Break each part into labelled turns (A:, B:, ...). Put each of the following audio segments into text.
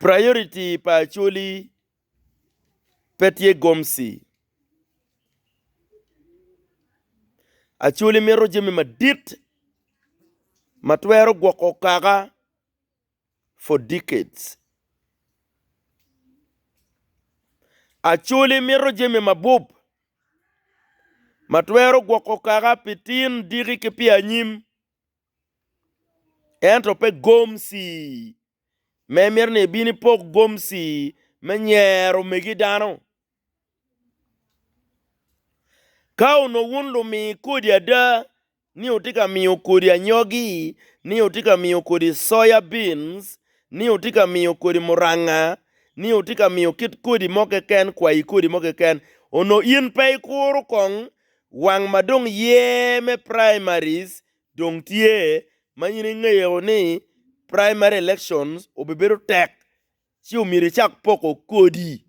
A: Priority pa Acholi pe tye gomsi, Acholi mito jami madit ma twero gwoko kaka for decades. Acholi mito jami mabup ma twero gwoko kaka pi tin, diki ki pi anyim. ento pe gomci ma imito ni ibin ipok gomci me nyero omegi dano. Ka onongo wun lumi kodi ada ni wutye ka miyo kodi anyogi, ni wutye ka miyo kodi soya beans, ni wutye ka miyo kodi muranga, ni wutye ka miyo kit kodi mo keken, kwayi kodi mo keken, onongo in pe ikuro kong wang ma dong ye me primaries Dong tye ma in ingeyo ni primary elections obibedo tek ci omyero icak poko kodi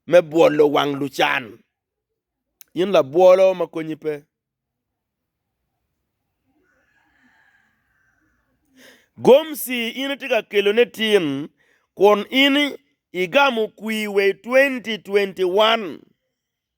A: me bwolo wang lucan. In labwolo ma konyi pe. Gomsi in itye ka kelone tin kun in igamo kwi wa i 2021.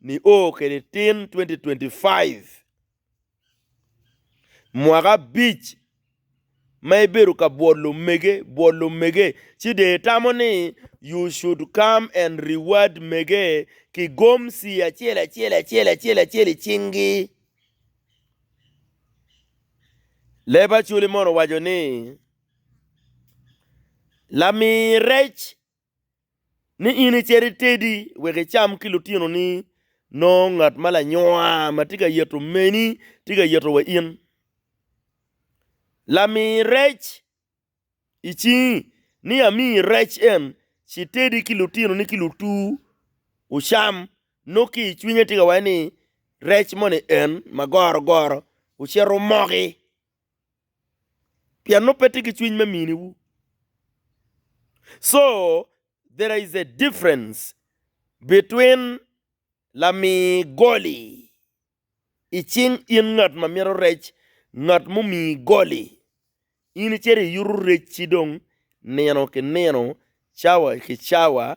A: Nio kede tin 2025 mwaka abic ma ibedo ka bwot lumege bwot lumege ci dee tamo ni you should come and reward mege ki gomsi acel acel acel acel acel i cingi. Leb Acholi mono owaco ni, Lamii rec ni in icit itedi wek icam ki lutinoni, nongo ngat ma lanyoa ma tye ka yeto meni tye ka yeto wa in. Lami rec i cingi ni amiyi rec en, ci itedi ki lutinoni ki lutuu wucam, nongo ki i cwinye tye ka waco ni, 'Rec moni en ma gorogoro ocito omoki. Pien nongo pe tye ki cwiny me mini wu. So there is a difference between lami goli i cing in ngat ma mito rec ngat mumi goli in icito iyuto rec ci dong nino ki nino cawa ki cawa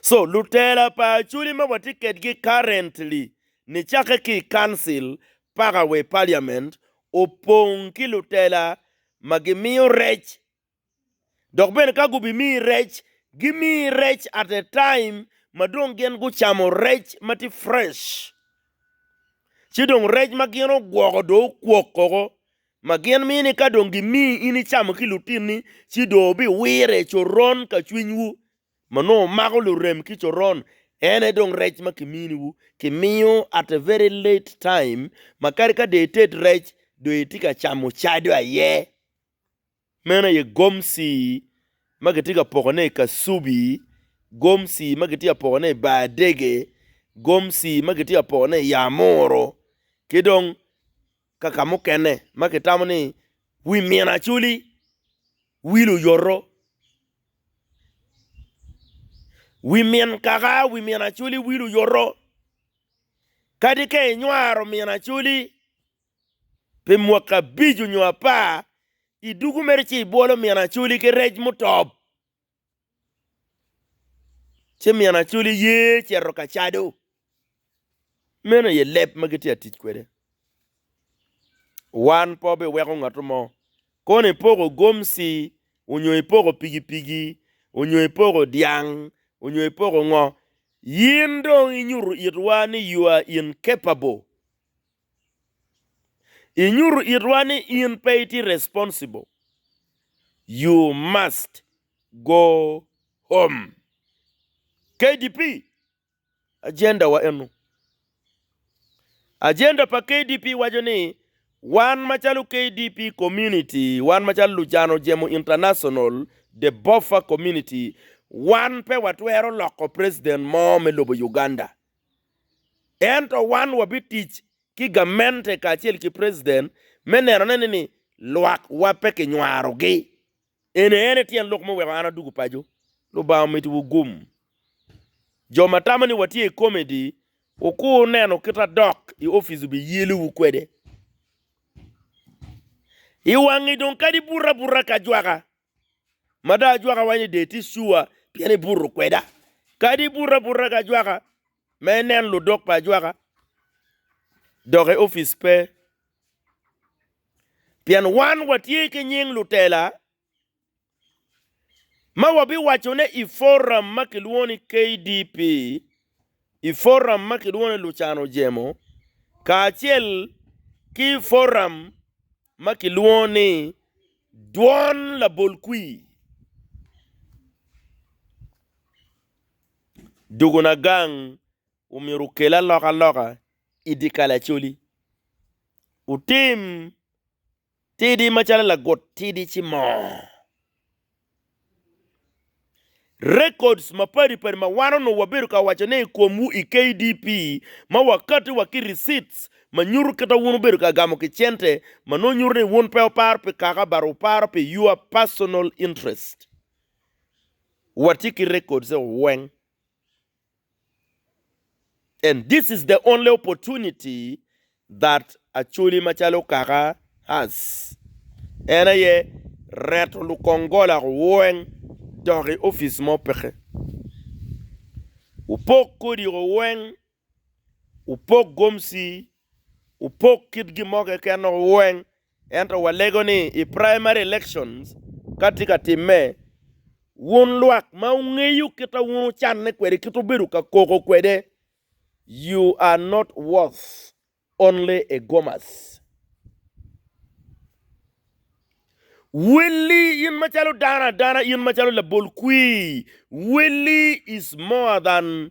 A: So lutela pa Acholi ma watye kedgi currently ni cakke ki i council paka wa i parliament opong ki lutela ma gimiyo rec dok bene ka gubimiyi rec gimiyi rec at a time ma dong gin gucamo rec ma tye fresh ci dong rec ma gin ogwoko dong okwok koko. ma gin mini ni ka dong gimiyi in icamo ki lutinni, ci dong wubiwire i coron ka cwinywu ma nongo mako lurem ki coron, en aye dong rec ma kiminiwu. Kimiyo at a very late time ma kadi ka dong ited rec, dong itye ka camo cado aye. Meno aye gomci ma kitye ka pokone i kasubi, gomci ma kitye ka pokone i bar dege, gomci ma kitye ka pokone i ya muru, ki dong ka ka mukene ma kitamo ni wi min acoli wil oyoto. Wi min kaka, wi min acoli wil oyoto, kadi ka inywaro min acoli. Pi mwaki abic onyo apar, idugu mere ci ibwolo min acoli ki rec mutop, ci min acoli ye cito ka cado. Meno aye leb ma gitye ka tic kwede. Wan pe wabiweko ngatto mo, kono ipoko gomci, onyo ipoko pigipigi, onyo ipoko dyang, onyo ipoko ngo, in dong inyuto itwa ni you are incapable. Inyuto itwa ni in pe itye responsible, you must go home. KDP agenda wa eno. Agenda pa KDP waco ni wan macalo KDP community, wan macalo Lujano Jemo International, the Boffa community, wan pe watwero loko president mo me lobo Uganda. Ento wan wabitic ki gamente kacel ki preciden me neno ne ni lwak wa pe ki nywaro gi. Eni ene tyen lok me weko an adugu paco. Lubanga omiti wu gum. Jo ma tamo ni watye i comedy wukur neno kit adok i office obi yelo wu kwede. I wangi dong kadi buta buta ka jwaka Mada ajwaka wa ni de tye sure pien ibuto kweda. Kadi ibuto abuta ki ajwaka ma inen ludok pa ajwaka dok i opic pe. Pien wan watye ki nying lutela ma wabiwaco ne i forum ma kilwongo ni KDP, i forum ma kilwongo ni lucano jemo, kacel ki forum. ma kilwongo ni dwon labol kwir dogona gang omyero okel alokaloka i dye kalacoli. Wutim tidi macalo lagut tidi ci moo. Records mapadi padi ma wan onongo wabedo ka waco ne i komwu i KDP ma wakatti wa ki receipts ma nyuto kita wun wubedo ka gamo ki cente ma nongo nyuto ni wun pe wuparo pi kaka but wuparo pi your personal interest. Watye ki records eo weng. And this is the only opportunity that Acholi macalo kaka has, en aye reto lukongola weng dok i office mo peke. Wupok kodi o weng, wupok gomsi, wupok kit gin mo keken o weng Ento walego ni i primary elections ka tye ka timme, wun lwak ma wungeyo kit ma wun wucanne kwede, kit wubedo ka koko kwede, you are not worth only a gomas. Willy in macalo dano adana, in macalo labol kwir, Willy is more than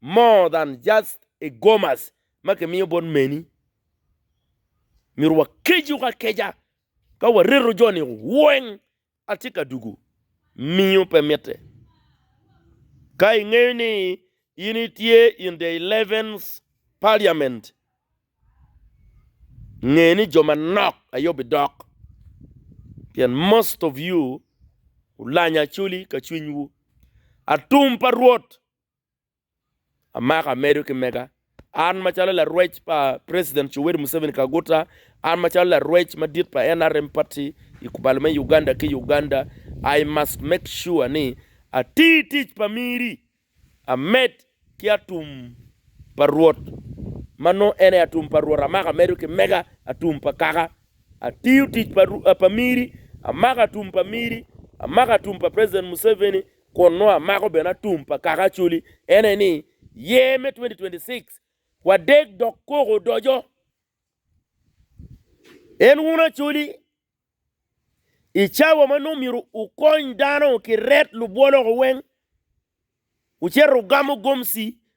A: more than just a gomas ma kimiyo bot meni. Myero wakecu akeca ka wareto joni weng atye ka dugu miyo pe mitte. Ka ingeyo ni in itye in the eleventh parliament nge ni jo manok aye obidok pien most of you ulanya coli ka cwinywu. Atum pa Rwot Amaka medo ki mega, An macalo larwec pa president Yoweri Museveni Kaguta, an macalo larwec madit pa nrm party i kubalo me Uganda ki Uganda, I must make sure ni ati tic pa miri amed ki atum pa Rwot ma nongo en aye atum pa Rwot, Amaka medo ki mega, atum pa kaka atiyo tic pa miri, Amaka atum pa miri, Amaka atum pa president Museveni, kun nongo amako bene atum pa kaka Acholi en aye ni Year me 2026 wadeg dok koko odoco. En wun Acholi i cawa ma nongo myero wukony dano ki ret lubwoloko weng wucito wugamo gomci